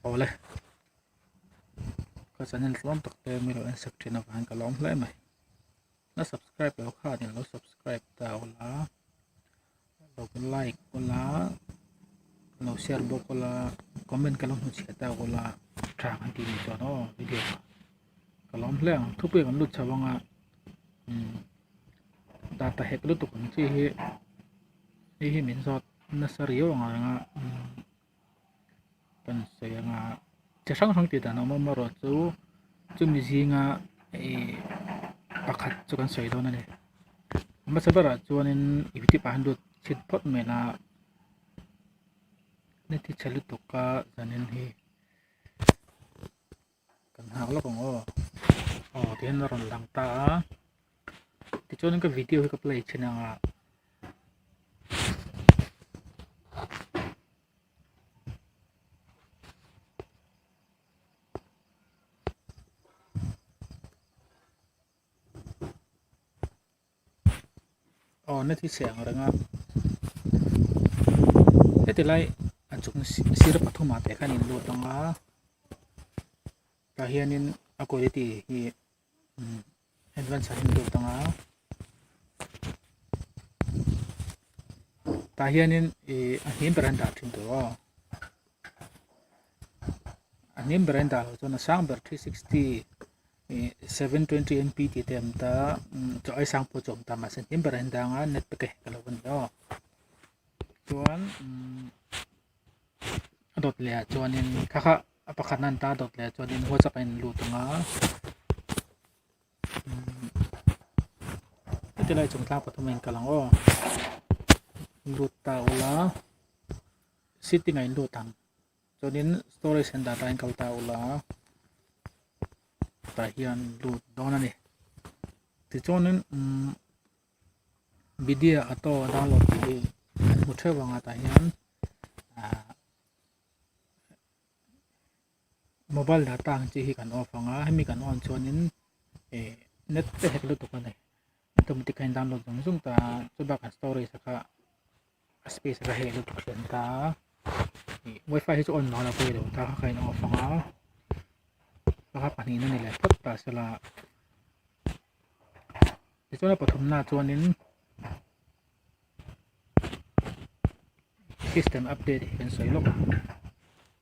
Ole. Ka channel tluang tak te mi lo en sak thina kan ka lawm hle mai. Na subscribe lo kha ni lo subscribe ta ola. like aw la lo share bawk aw la comment ka lo hmu chhiat ta aw la tha ang tih duh dawn aw video ah ka lawm hle ang thup hi kan lut chho ang a data hack lutuk ang chi hi hei hi min zat nasa riau anga rang a. kan sawi anga chi hrang hrang tih dan a awm a amarawhchu chu chumi zinga ihh pakhat chu kan sawi dawn a ni hmasa berah chuanin tibah hian lut chhit phawt mai a ni tisa lutuk a zanin hi. kan nghak lawk ang aw aw tihian la rawn lang ta a tichuan ka video hi ka play thin ang a aw na thi chhe ang reng a heti lai a chung sir pathum ah teh khan in lut ang a tah hian in a quality hi um advance ah hian lut ang a tah hian in ihh a hnuai ber an dah thin tawh aw. a hnem ber a in dah loh chuan a sang ber three sixty ih seven twenty MP tih te a awm ta a ai sang pawh chu a awm ta mahse hnem berah a in dang a net pack a hek loh a ni o chuan umm a dawt leh ah chuanin kha kha a pakhat a han ta a dawt leh ah chuan whatsapp a in lut ang a umm heti lai chung tlang pathum a in kalh ang aw lut ta ula. sitting a in lut ang chuanin storage han dan atin kal ta a ula tah hian lut dawn a ni tichuanin umm video auto download tih hi kan hmu theuh vang a tah hian ahh-- mobile data ang chi hi kan off ang a hemi kan on chuanin eh net te hek lutuk a ni automatic a in download zawng zawng ta a chubâkah storage a kha a space a kha heh lutuk hliam ta a ih wifi hi chu on loh loh pawh i lo ta kha kha in off ang a kha kha pahnihna ni leh phawt ta sela tichuan a pathumna chuanin system update hi kan sawi lawk a.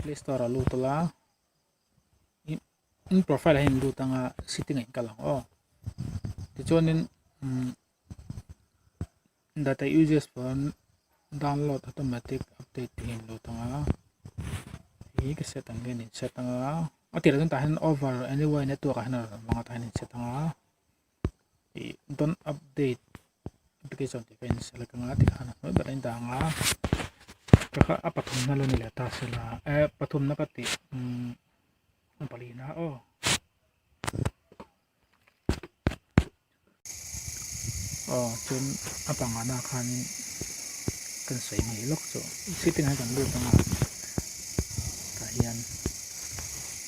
Play store ah lut ola in profile ah hian in lut anga setting ah hian ka la ang aw tichuanin umm data uses pawn download automatic update tih in lut ang a eng ka set ang hian in set anga a tirah zawng tah hian over any way network ah hian a rawn lang a tah hian in set anga. ih don't update application tih ka in select anga tikhan a hnuai berah a indah anga ka kha a pathum na lawni leh tahsil a eh pathum na ka ti umm a pali na aw aw chuan a panga na khanin kan sawi ngei lawk chu setting ah hian kan lut anga tah hian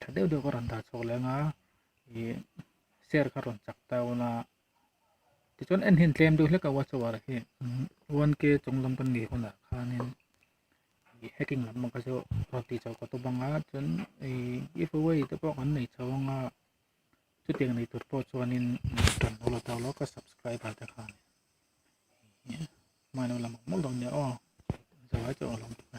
Tha deuh deuh ka rawn dar chhuak leh anga ih share kha rawn chak ta una tichuan en hian tlem deuh hlek a watch hour hi one k chung lam kan nei hunah khanin ih hacking lam mawngte chu rawn tih chho ka tu banga chuan ih giveaway te pawh kan nei chho anga chutiang nei tur pawh chuanin kan hmu lo ta lawk a subscriber te khan ih hmailo lam awm awm lo nia aw zawhai chu a awm lo bawk a.